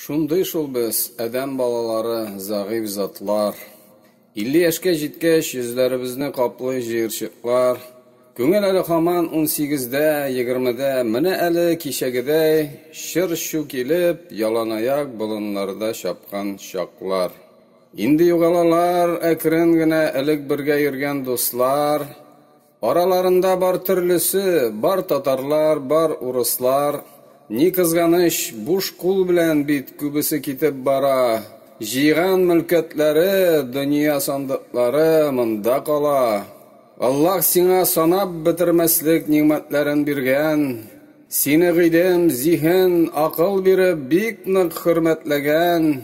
Шундый шул без, адәм балалары, зәгыйфь затлар. Илле яшькә җиткәч, йөзләребезне каплый җыерчыклар. Күңел әле һаман унсигездә, егермедә, менә әле кичәгедәй чыр-чу килеп, яланаяк болыннарда чапкан чаклар. Инде югалалар әкрен генә элек бергә йөргән дуслар. Араларында бар төрлесе, бар татарлар, бар урыслар. Ни кызганыч, буш кул белән бит күбесе китеп бара. Җыйган мөлкәтләре, дөнья сандыклары монда кала. Аллаһ сиңа санап бетермәслек нигъмәтләрен биргән. Сине гыйлем, зиһен, акыл биреп, бик нык хөрмәтләгән.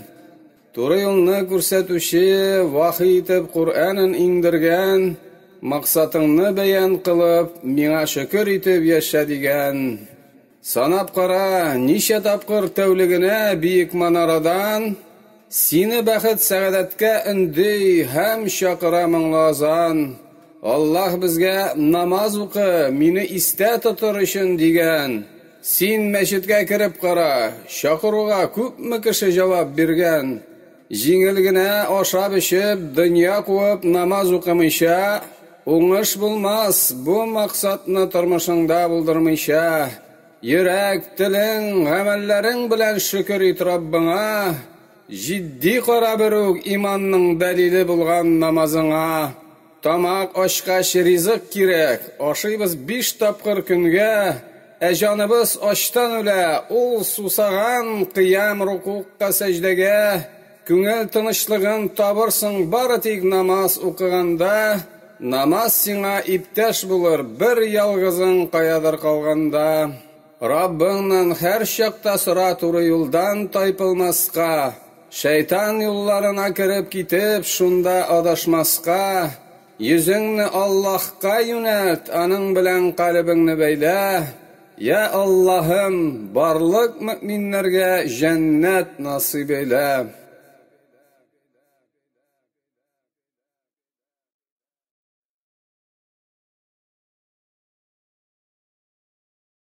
Туры юлны күрсәтүче, вахи итеп Коръәнен иңдергән, максатыңны бәян кылып, миңа шөкер итеп яшә дигән. Санап кара, ничә тапкыр тәүлегенә биек манарадан Сине бәхет-сәгадәткә өнди һәм чакыра моңлы азан, Аллаһ безгә намаз укы, мине истә тотыр өчен дигән. Син мәчеткә кереп кара, чакыруга күпме кеше җавап биргән. Җиңел генә ашап-эчеп, дөнья куып намаз укымыйча, уңыш булмас, бу максатны тормышыңда булдырмыйча, йөрәк, телең, гамәлләрең белән шөкер ит Раббыңа, җитди кара берүк иманның дәлиле булган намазыңа. Тамак ачкач ризык кирәк, ашыйбыз биш тапкыр көнгә, ә җаныбыз ачтан үлә, ул сусаган, кыям, рукугка, сәҗдәгә, күңел тынычлыгын табырсың бары тик намаз укыганда, намаз сиңа иптәш булыр бер ялгызың каядыр калганда. Раббыңнан һәрчакта сора туры юлдан тайпылмаска, шәйтан юлларына кереп китеп, шунда адашмаска, йөзеңне Аллаһка юнәлт, аның белән калебеңне бәйлә, йә Аллаһым, барлык мөэминнәргә җәннәт насыйп эйлә.